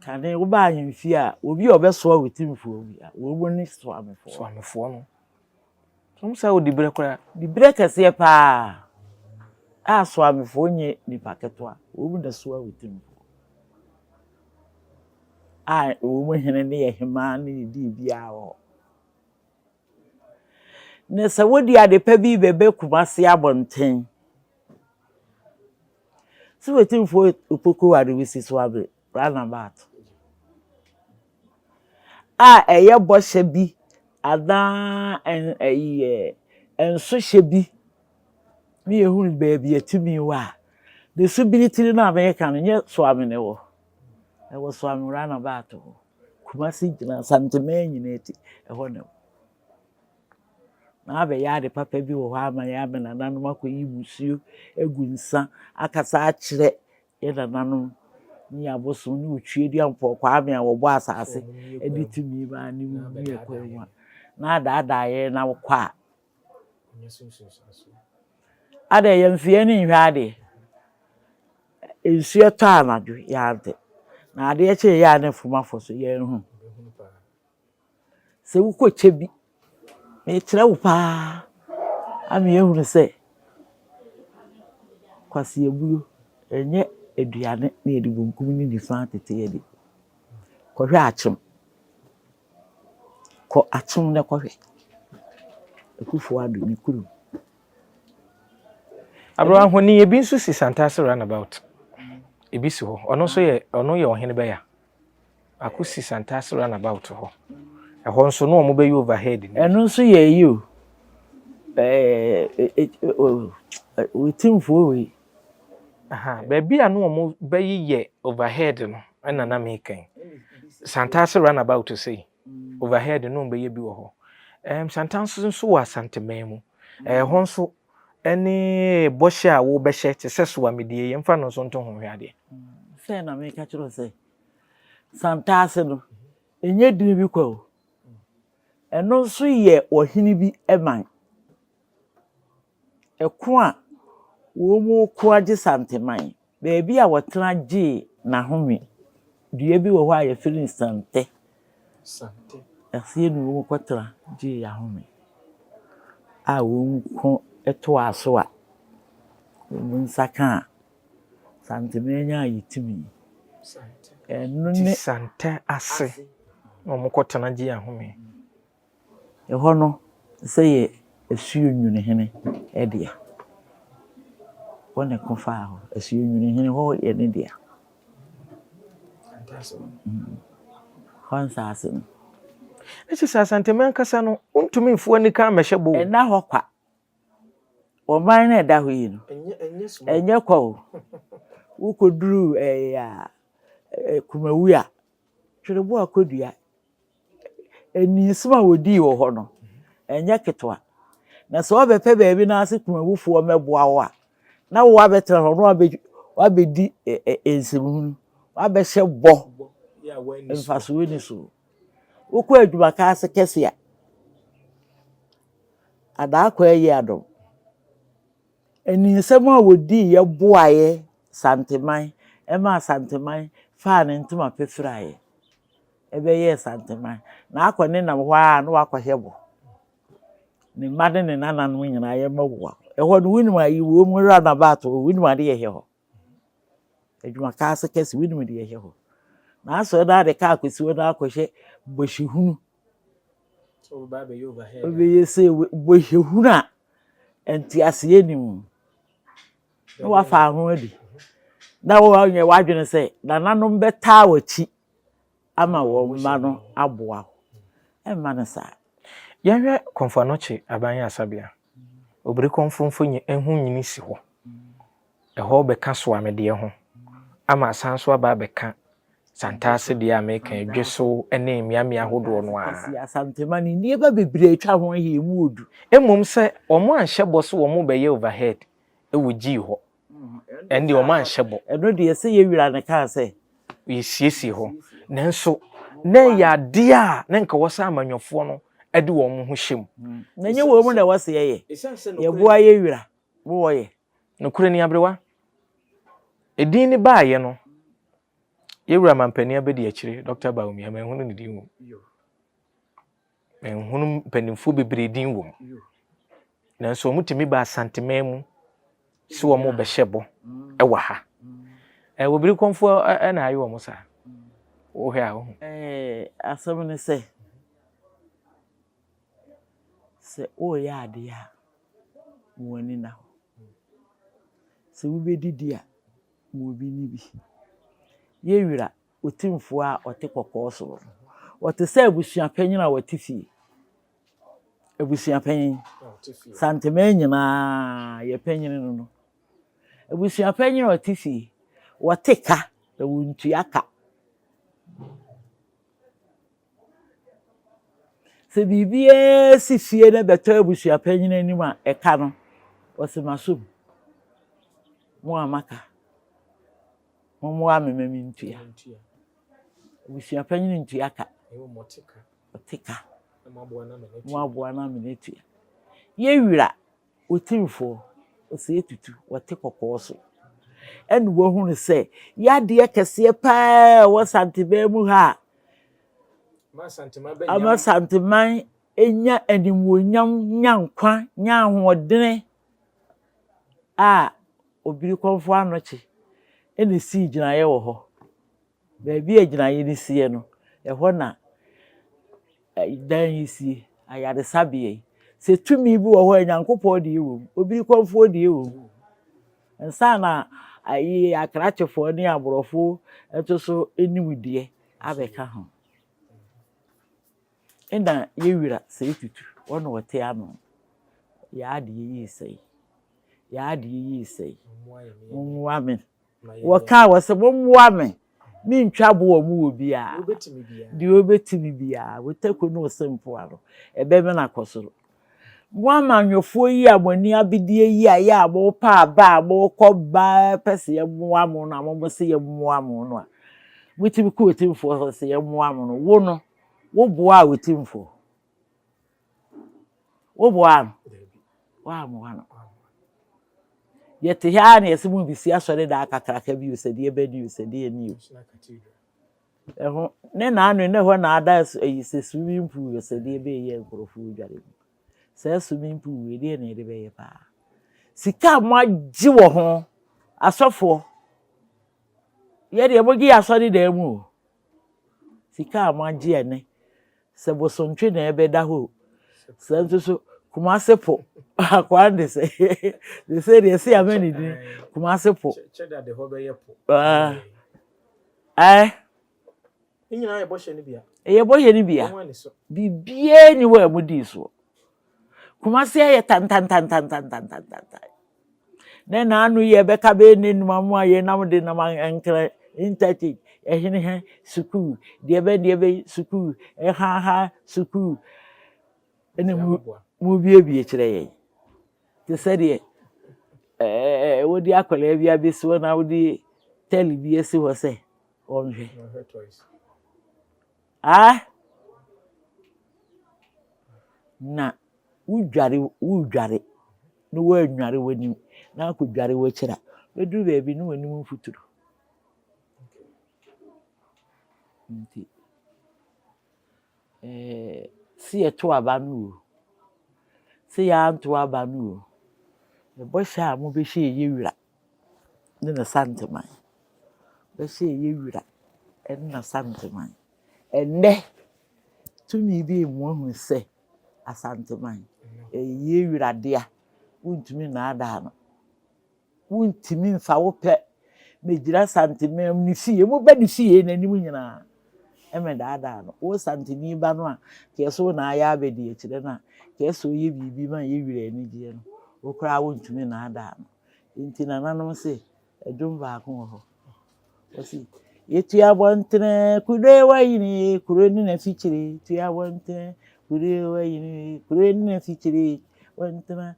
Kane wobaa yɛn fie a, obi a ɔbɛsoa wo ti mfua obi a, wɔn ne soamefoɔ. Soamefoɔ no. Wɔn sɛ wodi berɛ koraa. Di berɛ kɛseɛ paa a soamefoɔ nyɛ nipa ketewa. Wɔn na soa wo ti mfoɔ. A wɔn hene ne yɛ hemaa ne ne di biara wɔ hɔ. Na sɛ wode ade pa bi rebɛba Kumasi abɔnten, sɛ wetin fo opoku ware bi si so abe roundabout a ɛyɛ bɔhyɛ bi anaa ɛyi yɛ nsohyɛ bi ne yɛhunu baabi atumi wɔ a, the subiri tiri no a meka no nyɛ so amene wɔ. Ɛwɔ so Anwera na bɛato hɔ. Kumasi gyina Asantehene nyina eti, ɛhɔ na ɛwɔ. Na abɛyɛ ade papa bi wɔ hɔ ama yɛn ama nananom akɔyi musuo agu nsa akasa akyerɛ yɛn nananom ne yɛn abosom ne Otweadua Mpoɔ Kwame a wɔbɔɔ asase de tumi maa ne mu ne ɛkwan mu a na adaadaa yɛn na wokɔ a Adɛn, yɛmfa yɛn ani nhwɛ adeɛ? Nsuo tɔ anadwo, yɛante, na adeɛ kye yɛ a na afuom afɔ so, yɛanhunu. Sɛ wokɔkyɛ bi, mekyerɛ wo pa ara, ama yɛahunu sɛ kwaseɛbuo, ɛnyɛ aduane na yɛde bunkum ne nifa tete yɛ aduane. Kɔhwɛ akyem. Kɔ akyem na kɔ hwɛ. Akufo Addo ne kurom. Aberewa honi ebi nso si Santase runabout. Ebi si hɔ. Ɔno nso yɛ ɔno yɛ ɔhene bɛya. Ako si Santase runabout hɔ. Ɛhɔ nso no wɔn bɛyɛ overhead. Ɛno nso yɛ eyi o. Ɛɛ wetimfoɔ wei Baabi a na wɔbɛyeyɛ overhead no na na meka yi. Santase runabout sei, overhead na wɔbɛyɛ bi wɔ hɔ. Santase nso wɔ Asanteman mu. Ɛhɔ nso ne bɔhyɛ a wobɛhyɛ te sɛ Suamidi yi, yɛmfa no nso nto ho hwɛ adeɛ. Sɛ na meka kyerɛ wo sɛ, Santase no, ɛnyɛ dini bi kwa o. Ɛno nso yɛ ɔhene bi man. Ɛko a wɔreko agye Santeman, baabi a wɔtena gyee n'ahome. Dua bi wɔ hɔ a wɔfrɛ no Santɛ. Aseɛ na wɔkɔtena gyee ahome a wɔko toaa so a wɔn nsa kaa a Santeman nyaa yi tumi. Ɛno ne. Santɛ ase na wɔkɔtena gyee ahome. Ɛhɔ no sɛ yɛ Asuonwunu hene dea. Hɔ na ɛko faa hɔ. Asuonwunu hene, hɔ yɛ ne dea. Hɔ nsaase no. Na kyerɛ sɛ Asantehene ankasa no, wontumi mforo anika mmɛhyɛ bɔ o. Ɛnna hɔ kwa. Ɔman no a ɛda hɔ yi no, ɛnyɛ kwa o. Wokɔduru ɛɛ a, Kumawuo a, twerɛboɔ a kɔdua. Nniiso a wɔdii wɔ hɔ no, ɛnyɛ ketewa. Na sɛ wɔbɛpɛ baabi na ase kumawufoɔ mmɛboa wo a, na wo abɛtena hɔ na wabɛdi nsɛmhunu, wabɛhyɛ bɔ mfasoɔ ni so. Wokɔ adwuma ka ase kɛse a, adaa kɔ ayi adom. Nniisɛm a wɔdii yɛ boaeɛ santeman ɛma asanteman faa ne ntoma pefiraeɛ. bɛyɛ Nsanteman na akɔ ne nam hɔ ara na wakɔhɛ bɔ ne mma ne ne nananom nyinaa yɛ ma wua ɛhɔ no wonim a yiwuo mu ra na ba ato wonim ade yɛ hɛ hɔ adwuma kaa se kɛse wonim de yɛ hɛ hɔ na asɔ na ade kaa kɔsi hɔ na akɔhɛ bɔhyɛ hunu ɔbɛyɛ sɛ bɔhyɛ hunu a ɛnti aseɛ nim na wafa ho adi na wɔnyɛ wadwene sɛ nananom bɛtaa wakyi ama wɔn mma no aboa wo. Ɛmma no saa. Yɛnhwɛ Komfo Anokye Aban Asabea. Obiri Komfo mfonyin nhonyini si hɔ. Ɛhɔ bɛka Soamedeɛ ho ama asan so aba abɛka Santase deɛ a meka yi, Dweso ne mmeammea ahodoɔ no ara. Ɔsi Asantema no nneɛma bebree atwa ho ahyia, emu wɔ du. Mmom sɛ wɔanhyɛ bɔ sɛ wɔbɛyɛ overhead wɔ Gyii hɔ. ɛnde wɔn anhyɛ bɔ. Ɛno deɛ sɛ yɛ wura no kaa sɛ. Yɛsiesie hɔ nanso na ɛyɛ adeɛ a na nka wɔsɛ amanyɔfoɔ no de wɔn ho hyɛ mu. Hmm. Na ɛnyɛ wɔn mu na wɔsɛ yɛyɛ yɛboa yɛ wura mo wɔyɛ. Nokorɛ ni aberewa edin ne baayɛ no yɛwura mampanin abɛdi akyire Dr. Bawumia manhunu ne din wom. Menhunu mpanimfoɔ bebree din wɔ mu. Nanso wɔtumi ba Asanteman mu sɛ wɔrebɛhyɛ bɔ wɔ ha. Ɛɛ wɔbiri kɔnfoɔ na ayɛ wɔn saa. Wohwɛ a wohu. Ɛɛ asɛm ne sɛ, sɛ woreyɛ adeɛ a, ma w'ani nna hɔ. Sɛ wobɛdidi a, ma obi nni bi. Yɛ wira Otumfoɔ a ɔte kɔkɔɔ soro no. Ɔte sɛ abusua panyin a ɔte fie. Abusua panyin. Santeman nyinaa yɛ panyin no no. Abusua panyin a ɔte fie. Wɔte ka na wɔntua ka. Sɛ biribiara si fie na bɛtɔ abusua panyin anim a, ɛka no, ɔse masom. Mo a maka. Mommoa me ma mentua. Abusua panyin ntua ka. Ɔte ka. Moaboa no amene atua. Yɛ wira otirifoɔ ɔsɛ etutu ɔte kɔkɔɔ so. Ɛna wahunu sɛ yadeɛ kɛseɛ paa ɛwɔ santeman mu ha a. Ama santeman nya animuonyam nya nkwa nya ahoɔdene. a obirikɔnfo anɔkye na esii gyinaeɛ wɔ hɔ. Baabi a gyinaeɛ no siiɛ no, ɛhɔ na dan yi sie, ayaresabea yi. Sɛ tumi bi wɔ hɔ a, Nyankopɔn deɛ wɔ mu, obirikɔnfoɔ deɛ wɔ mu. Ansa na ayi akrakyefoɔ ne aborɔfo nso so nimdeɛ abɛka ho. Nna yewura sɛi tutu, wo na ɔte ano, Y'ade yeyii sɛi, y'ade yeyii sɛi, mommoa me. Wɔkaa wɔ sɛ mommoa me, mentwa bo wɔ mo wɔ biaa, deɛ ɔbɛtumi biaa, wo tako ne wo sempoa no, ɛbɛmene akɔ soro. Mo amanyɔfoɔ yi a mo ani abedeɛ yi a yɛ a mopɛ aba a mokɔ ba pɛ sɛ yɛmmoa mo no a, mo mo se yɛmmoa mo no a, motumi kɔ otemfoɔ hɔ sɛ yɛmmoa mo no, wo no, Woboaa wo timfoɔ? Woboaa no? Woammoa no. Yɛte ha ara na yɛse mobɛsi asɔredan kakraka bio sɛ deɛ ɛbɛ ni o, sɛ deɛ ni o. Ɛho ne naano yi na ɛhɔ na ada ayi sɛ swimming pool yɛ sɛ deɛ ɛbɛyɛ nkurɔfoɔ dware mu. Saa swimming pool wei deɛ na yɛde bɛyɛ paa. Sika a moagye wɔ ho asɔfoɔ yɛdeɛ mogye yɛ asɔredan mu o. Sika a moagye ɛnnɛ, sɛ bosomtwe na ɛbɛda hɔ o. Saa nso so, Kumase po, akwaa de sɛ, seesei deɛ ɛsɛ ama ne din, Kumase po. Kyɛda de hɔ bɛyɛ po. Ae. Ne nyinaa yɛ bɔhyɛ no bia. Ɛyɛ bɔhyɛ no bia. Biribiara ni hɔ a mudii soɔ. Kumase ayɛ tantantantantantantantan. Ne n'ano yɛ bɛka bɛyɛ n'anum amu a yɛnam de nam ankra ntati ɛhene ha sukuu deɛ bɛ deɛ bɛ sukuu ɛha ha sukuu ɛna mu mu biebie kyerɛ yɛn te sɛ deɛ ɛɛ wodi akwadaa bi abɛsiwɔ na wodi tɛli bi asi hɔ sɛ ɔnhwɛ. Aah! Na wodware woredware na woannware w'anim na akɔdware w'akyiri a, bɛduru baabi na w'anim mfuturo. Nti eh, sɛ yɛto aba no o, sɛ yɛanto aba no o, bɔhyɛ a mobɛhyɛ yɛ wura. ne n'Asantehene. Bɛhyɛ ɛyɛ wira ne n'Asantehene. Ɛnnɛ, tumi bi rema wɔahu sɛ Asantehene yɛ wira dea, wontumi nnaadaa no. Wontumi mfa wo pɛ mmɛgyina Asantehene ne fie, mobɛ ne fie n'anim nyinaa. mmɛdaadaa no. Wo santeni ba no a nka yɛse wo na ayɛ abadiakyire no a nka yɛse ɔyɛ biribi ma yɛ werɛ anigyeɛ no, wo koraa wontumi nnaadaa no. Nti nananom se dwom baako wɔ hɔ, wɔse, Yɛtu abɔntene kure wayini kuro ne n'afikyire, tu abɔntene kure wayini kuro ne n'afikyire, abɔntene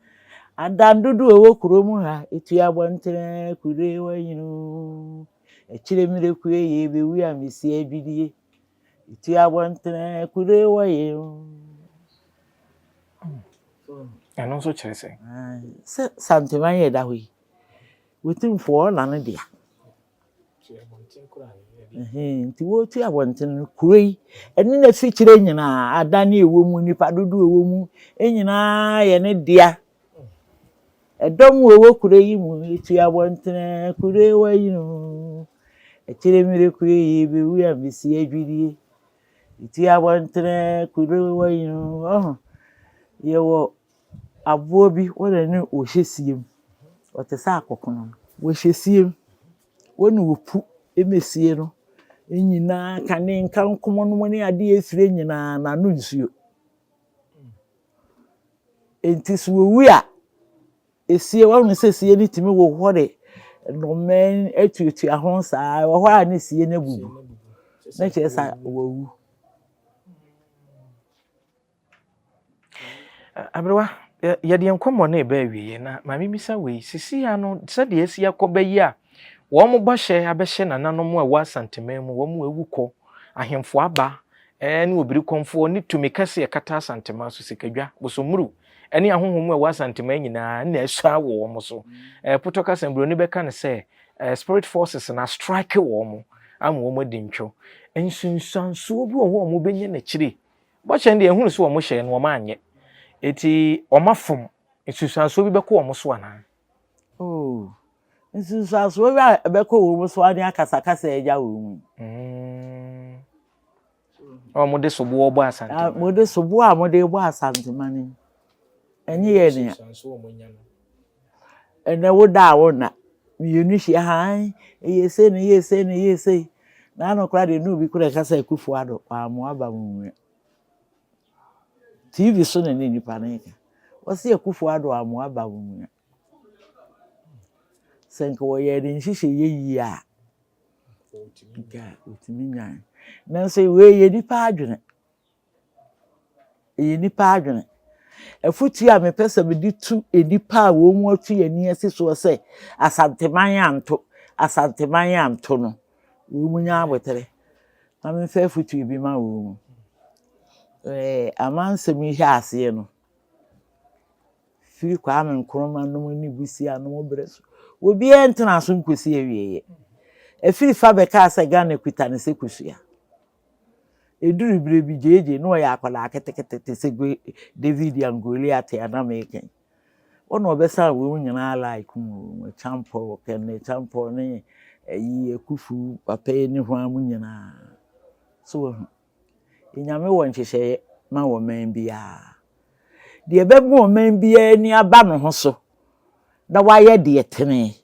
adan dodoɔ wɔ kuro mu ha, yɛtu abɔntene kure wayini. Akyire mmerɛ kue yei bɛwu a mesi adwidie Ɛtu abɔntene kure wɔ yei o Ɛno nso kyerɛ sɛ? Sɛ Santema yɛ da hɔ yi Wɔtumfoɔ ɔna no dea Nti wɔtu abɔntene no kuro yi ɛne n'afikyire nyinaa adan ne ɛwɔ mu nnipa dodoɔ ɛwɔ mu nyinaa yɛ ne dea Ɛdɔm a wɔwɔ kuro yi mu yi tu abɔntene ara kuro yi ayini oo. Akyire mmere kuro yi yɛbɛwu a mɛsi adwidie. Ɛtu abɔntene ara kuro yi ayini oo. Ɔho yɛwɔ aboa bi wo na ɛne ɔhyɛ sie mu. Ɔte sɛ akɔkono. Ɔhyɛ sie mu. Wo na ɔpu ma sie no nyinaa kane nkankomɔ nom ne adeɛ fire nyinaa no ano nsuo. Enti sɛ wowu a, esie wɔn mu sɛ sie no tumi hohore nnomaa atuatua ho saa wɔ hɔ a ne sie no abubu na kyerɛ sɛ wɔawu. Aberewa, yɛde yɛn nkɔmmɔ no ɛbɛ awieɛ na maame misa wei sisi ya no sɛdeɛ asi akɔ bɛ yi a wɔn bɔhyɛ abɛhyɛ nananom a ɛwɔ asanteman mu wɔn awu kɔ ahemfo aba Aane Obirikɔmfoɔ ne tumi kɛseɛ kata Asantemaa so, Sikadwa, Bosommuru, ne ahonhom a ɛwɔ Asantemaa nyinaa na asua wɔ wɔn so. Ɛpotɔ kasa mu Buroni bɛka no sɛ spirit forces no astrike wɔn ama wɔn adi ntwo. Nsunsuansoɔ bi wɔ hɔ a wɔbɛnya no akyire. Bɔhyɛ no deɛ yɛhunu sɛ wɔhyɛɛ no wɔanyɛ. Enti wɔafom. Nsunsuansoɔ bi bɛkɔ wɔn so anaa? Oh, nsunsuansoɔ bi a ɛbɛkɔ wɔn so ara ne akasakasa a ɛnya wɔn yi. Mm. na wɔde soboɔ bɔ asantema no wɔde soboɔ a wɔde bɔ asantema no ɛnyɛ yɛ nea ɛnɛ woda a wonna mmienu hyia han ɛyɛ sei na ɛyɛ sei na ɛyɛ sei na ano koraa deɛ ne obi koraa ɛka sɛ akufo ado wɔammoa ba mu nwia tv so na ne nnipa no nka wɔsi akufo ado wɔammoa ba mu nwia Sɛ nka wɔyɛɛ ne nhyehyɛeɛ yie a, nka ɔtumi nyae. Nanso wei yɛ nipa adwene. Ɛyɛ nipa adwene. Afotuo a mepɛ sɛ mede tu nnipa a wɔn mu afi yɛn ani asi soɔ sɛ asanteman anto asanteman anto no wɔn mu nya abotire na memfa afotuo bi ma wɔn mu. Ɛɛ amansɛm yi hyɛ aseɛ no. Firi Kwame Nkrumah nom ne Busia nom berɛ so, obiara ntenaa so nkɔsi awieeɛ. Afiri fa bɛkaa sɛ Ghana kuta no sɛ kosua. Ɛduruu berɛ bi, JJ, na ɔyɛ akwadaa ketekete te sɛ David and Goliath a na mereka yi, wo na ɔbɛsan wɔn nyinaa like mu, Acheampong, Kenny Acheampong ne ayi Akufu papa yi ne hwan mo nyinaa. So woahu? Nyame wɔ nhyehyɛeɛ ma ɔman biara. Deɛ ɛbɛma ɔman biara ani aba ne ho so na wayɛ deɛ ɛtene,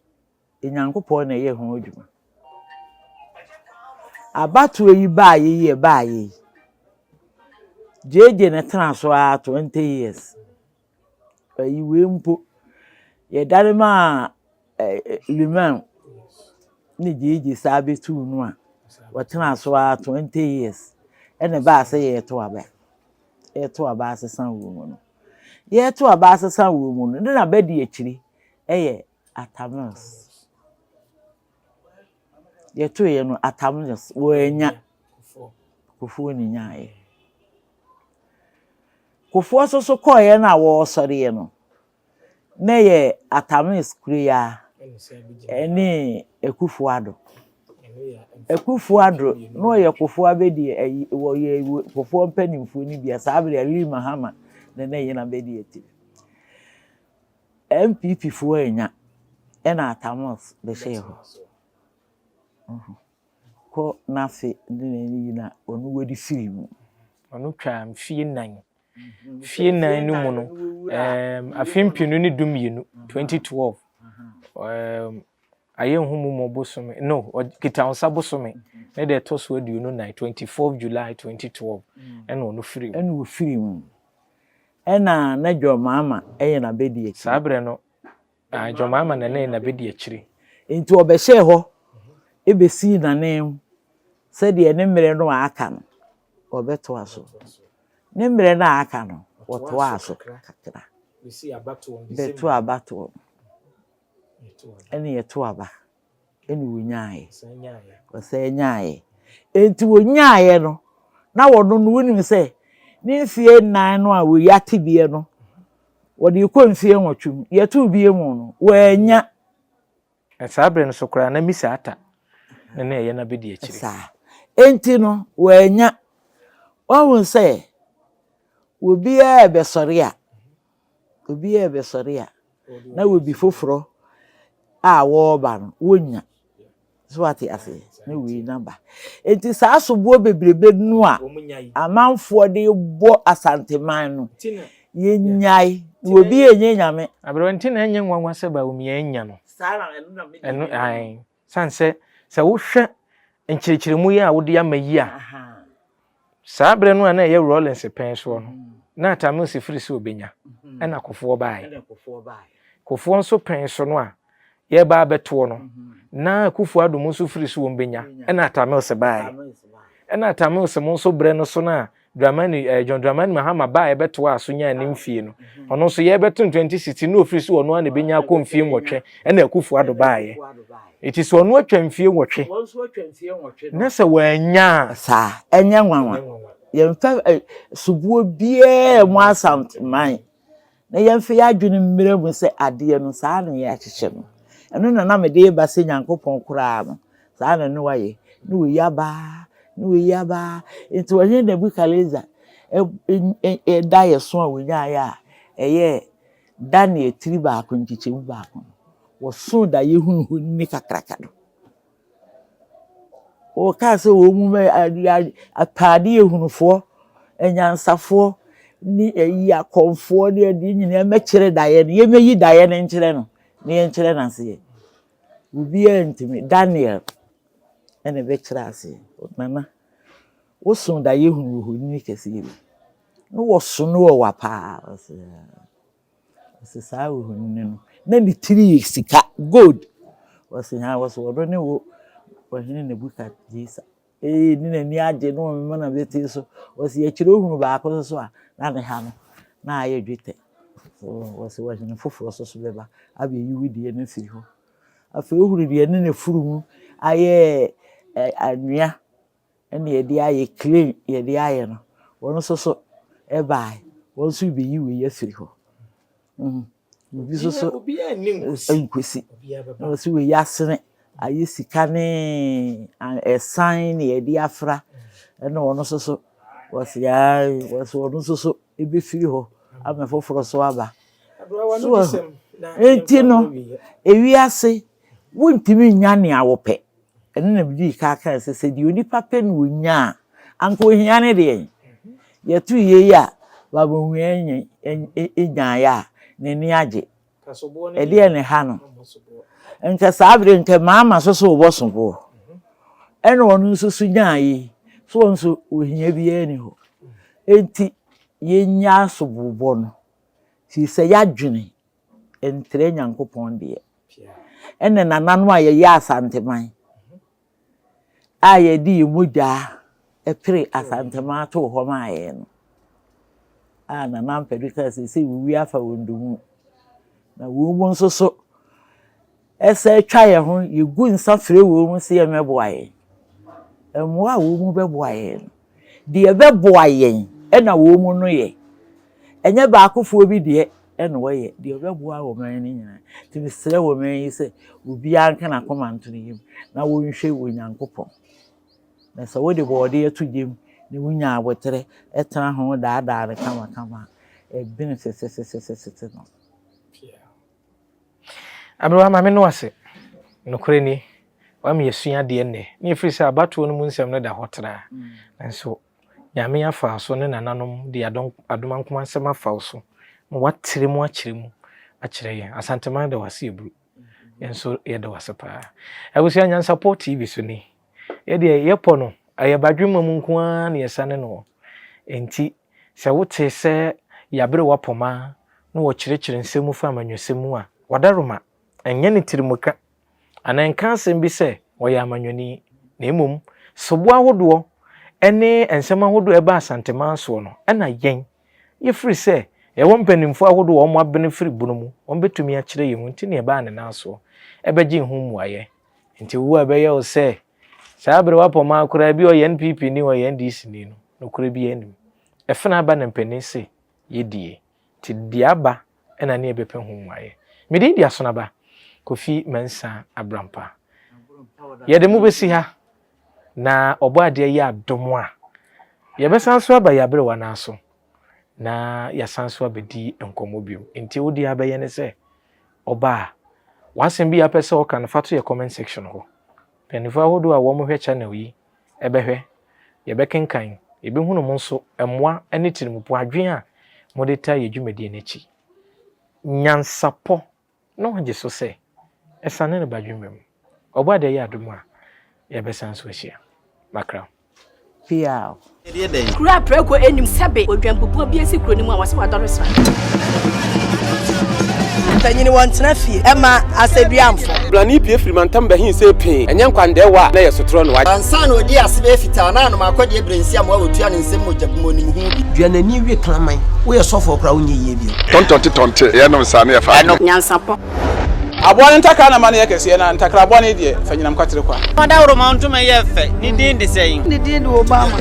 Nyankopɔn na ɛyɛ ho adwuma. Abatoɔ yi baeɛ yi a ɛbaeɛ yi, gyegye na ɛtenaa so ara twenty years. Ayiwei mpo, yɛdane maa Limann ne Gyegye san bɛtuu no a, ɔtenaa so ara twenty years, ɛna ɛbaa sɛ yɛreto aba. Yɛreto aba asesa wɔ mu no, yɛreto aba asesa wɔ mu no, ne na bɛdi akyiri yɛ Atamils. Yɛtoeɛ no, Atamils wɔannya, Kufuor na ɛnyaeɛ. Kufuor so so kɔɔeɛ no a wɔresɔreɛ no na ɛyɛ Atamees kureyaa ɛne Akufuor Addo. Akufuor Addo na ɔyɛ Kufuor abɛdi ayi wɔyɛ Kufuor mpanimfoɔ no bia saa berɛ Lee Mahama na na ɛyɛ n'abɛdi akyire. NPP foɔ annya ɛna Atamees bɛhyɛɛ hɔ. kɔ n'ase de n'ani gyina ɔno wadi firi mu. Ɔno twaa mfeɛ nnan. Mfeɛ nnan no mu no, um, afe mpenu ne du mmienu, 2012, um, ayɛ nhumu mu bosome, no, kitahosa bosome, ne deɛ ɛtɔ so aduonu nan, 24 July 2012, ɛna ɔno firi mu. Ɛna ɔfiri mu. Ɛna na John Mahama ɛyɛ n'abɛdi akyi. Saa berɛ no, Ae, Jemima nanan na bedi akyire. Enti wɔbɛhyɛɛ hɔ besii nanan mu sɛdeɛ ne mmerɛ no a aka no wɔbɛtoa so. Ne mmerɛ no a aka no wɔtoaa so kakra bɛtoo abatoɔ no, ɛnna yɛtoo aba. ɛna ɔnyaaeɛ ɔsane nyaaeɛ ɛnti ɔnyaaeɛ no na wɔno no wonim sɛ ne mfeɛ nnan no a wɔyi atebeɛ no wɔde kɔ mfeɛ nwɔtwe mu yɛtoo bie mu no wɔanya saa berɛ no so koraa na misa ata na na ɛyɛ no abɛdi akyiri saa ɛnti no wɔanya wahu sɛ obiara bɛsɔre a Obiara rebɛsɔre a, na obi foforɔ a ɔreba no, wɔnnya. So wate aseɛ? Na wei na ba. Enti saa soboɔ bebrebe no a amanfoɔ de bɔ Asanteman no, yɛnyae. Na obi ɛnyɛ nyame. Aberɛ nti na ɛnyɛ nwanwa sɛ Bawumia anya no. Saa na ɛno na me deɛ. Ɛno, ae. San sɛ, sɛ wohwɛ nkyerɛkyerɛmu yi a wode ama yi a, saa berɛ no a na ɛyɛ Rawlings pɛn soɔ no, na Atta Mills firi sɛ ɔbɛnya, ɛna Kofoɔ baeɛ. Kofoɔ nso pɛn so no a yɛreba abɛtoɔ no, na Akuffo Addo mo nso firi sɛ wɔbɛnya, ɛna Atta Mills baeɛ. Ɛna Atta Mills mo nso berɛ no so no a Dramani, eh, John Dramani Mahama baa yɛbɛtoaa so nyaa ne mfie no. Ɔno nso yɛbɛto no 2016 na ofiri so ɔno ara na ebenya akɔ mfie nwɔtwe ɛna Akufo Addo baayɛ. Eti sɛ ɔno atwa mfie nwɔtwe na sɛ wannya a. Saa, ɛnyɛ nwanwa. Yɛmfa eh, soboɔ biara mmu Asante man. na yɛmfa yɛn adwene mmira mu sɛ adeɛ no saa na yɛahyehyɛ no, ɛno na na mede reba sɛ Nyankopɔn koraa no, saa na na wayɛ, na wei aba, na wei aba. Nti ɔhene Nebukadnesar daeɛso a wɔnyaeɛ a ɛyɛ Daniel tiri baako nkyekyɛmu baako no, wɔsoo daeɛ hunuhunufoɔ no kakraka no. Wɔkaa sɛ wɔn mu bɛyɛ ade ade ataade ahunufoɔ, anyansafoɔ ne ayi akɔmfoɔ ne adeɛ nyinaa mmɛkyerɛ daeɛ no. Yɛmmɛyi daeɛ no nkyerɛ no na yɛnkyerɛ no aseɛ. Obiara ntumi. Daniel na ɛbɛkyerɛɛ aseɛ. Nana, woso daeɛ hunu ohoni kɛseɛ bi. Na wɔso no ɔwa pa ara. Ɔse saa ohoni no no na ne tiri yɛ sika, gold. Ɔse haa, ɔse ɔno ne wo ɔhene Nebukadnesar. Ee, ne n'ani agye na ɔmemena bɛtee so. Ɔse yɛkyerɛ ohunu baako no so a, na ne ha no na ayɛ dwetɛ. Ɔse ɔhene foforɔ nso so bɛba abɛyi wo deɛ no afiri hɔ. Afei ohunu deɛ ne n'afunumu ayɛ anwea. ɛna yɛde ayɛ clay yɛde ayɛ no wɔn nso so ɛbae wɔn nso beyi wei afiri hɔ mm obi nso so nkwesi na wɔsi wei asene ayɛ sika ne ɛsan na yɛde afra ɛna wɔn nso so wɔsi aa wɔsi wɔn nso so ebefiri hɔ ama foforɔ so aba so eti no ewiase wuntumi nya nea wɔpɛ. Ɛno na medii kan kae sɛ, sɛ deɛ onipa pɛ na ɔnya a, anka ohia ne deɛn? Yɛto yei a, Baabɔhwia nyan, nyaeɛ a, n'ani agye. Ɛdeɛn na ɛha no? Nka saa berɛ, nka mama so sɛ ɔbɔso boɔ. Ɛna ɔno nso so nyaa yei, so ɔno nso ohia biara nni hɔ. Enti yɛnya asobobɔ no, firi sɛ yɛadwene nkyerɛ Nyankopɔn deɛ. Ɛne nananom a yɛyɛ Asanteman a yɛde yɛn mogyaa pere Asanteman too hɔ maa yɛn no a Nana Ampadu kaa sɛ sɛ wɔwie afa wɔn domu na wɔn mu nso so Yɛsan twa yɛn ho, yegu nsa frɛ wɔn sɛ wɔmmɛboa yɛn. Mmoa a wɔn bɛboa yɛn no, deɛ ɛbɛboa yɛn na wɔn no yɛ. Ɛnyɛ baakofoɔ bi deɛ na wɔyɛ, deɛ ɛbɛboa ɔman no nyinaa. Nti mesrɛ ɔman yi sɛ, obiara nka n'akoma nto ne yam na ɔnhwɛ Onyankopɔn. Na sɛ wode bɔɔdeɛ to gya mu na wonya aboterɛ tena ho daadaa no kamakama a, ɛbene sesesesese no. Aberewa, Maame no ase. Nokorɛ ni, wama yɛasua adeɛ nnɛ. Ne ɛfiri sɛ abatoɔ no mu nsɛm no da hɔ traa. Nanso Nyame afa wo so ne nananom de adom adomankoma nsɛm afa wo so ma woatrɛ mu akyerɛ mu akyerɛ yɛn. Asanteman da wo ase Aburo. Yɛn nso yɛda wo ase paa. Abusua Nyansapɔ TV so ni. Yɛ deɛ yɛpɔ no, ɛyɛ badwemma mu nko ara na yɛsane no wɔ. Enti sɛ wote sɛ yɛabere w'apɔma na wɔkyerɛkyerɛ nsɛm mu fa amanyɔsɛm mu a, w'adaroma nyɛ no tirimka anaa nka asɛm bi sɛ ɔyɛ amanyɔni, na mmom soboɔ ahodoɔ ne nsɛm ahodoɔ a ɛba Asanteman soɔ no na yɛn, yɛfiri sɛ yɛwɔ mpanimfoɔ ahodoɔ a wɔabene firi bono mu, wɔbɛtumi akyerɛ yɛn mu nti na yɛbaa ne nan soɔ bɛgyee ho mmuaeɛ. Nti wo a ɛbɛyɛ wo sɛ saa bere woapɔ maa koraa ebi ɔyɛ NPP ni ɔyɛ NDC ni no nokorɛ biara nnim. Ɛfena aba na mpanin se yɛ die. Nti deɛ aba na ne yɛbɛpɛ ho mmuaeɛ. Me din de Asonaba Kofi Mensah Abrampa. Yɛde mo bɛsi ha na Ɔbɔadeɛ yɛ adom a yɛbɛsan nso aba yɛn aberewa no ara so na yɛasan so abɛdi nkɔmmɔ bio. Nti wo deɛ abɛyɛ ne sɛ ɔba a w'asɛm bi a pɛ sɛ ɔka no fa to yɛ comment section hɔ. Mpanimfoɔ ahodoɔ a wɔhwɛ channel yi bɛhwɛ, yɛbɛkenkan, yɛbɛhunu mo nso mmoa ne tirimupo adwene a mode taa yɛ dwumadie no akyi. Nyansapɔ na ɔgye so sɛ asiane no ba dwuma mu. Ɔbɔada yɛ adom a, yɛbɛsan so ahyia. Makra. Piaw. Kuro a prɛko nnim sɛbe odwanpupuo bi asi kuro no mu a wɔse wadɔre sra. Mpanyini wɔntena fie ɛma asɛduamfo. Brani pie firi mantam bɛhen se pee, ɛnyɛ nkwandɛɛwa a na yɛ sotorɔ no. Ansa na ɔdi ase bɛyɛ fitaa na anom akɔdeɛ berɛnsiam a wɔtua ne nsam mogya bmɔnim ho bi. Dua n'ani wie kraman. Woyɛ sɔfoɔ koraa wonyɛ yie. Tɔntɔnte tɔnte, yɛ nom saa na yɛ fa adwene. Nyansapɔ. Aboa no ntakra na ma no yɛ kɛseɛ na ntakra boa no deɛ fa nyinam kwatere kwa. Dawuroma ntoma yɛ fɛ, ne din de sɛn? Ne din de Obama.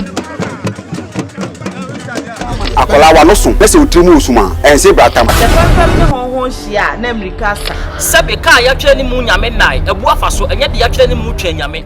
Akwadaa w'ano so na sɛ wo tiri mu wɔ sum a, ɛnse bra tam. Sɛ fɛmfɛm ne hɔnhɔn hyia a, na mmirika asa. Sɛbe kaa yɛatwerɛ ne mu Nyame nnae, abu afa so, ɛnyɛ deɛ yɛatwerɛ ne mu twɛn Nyame.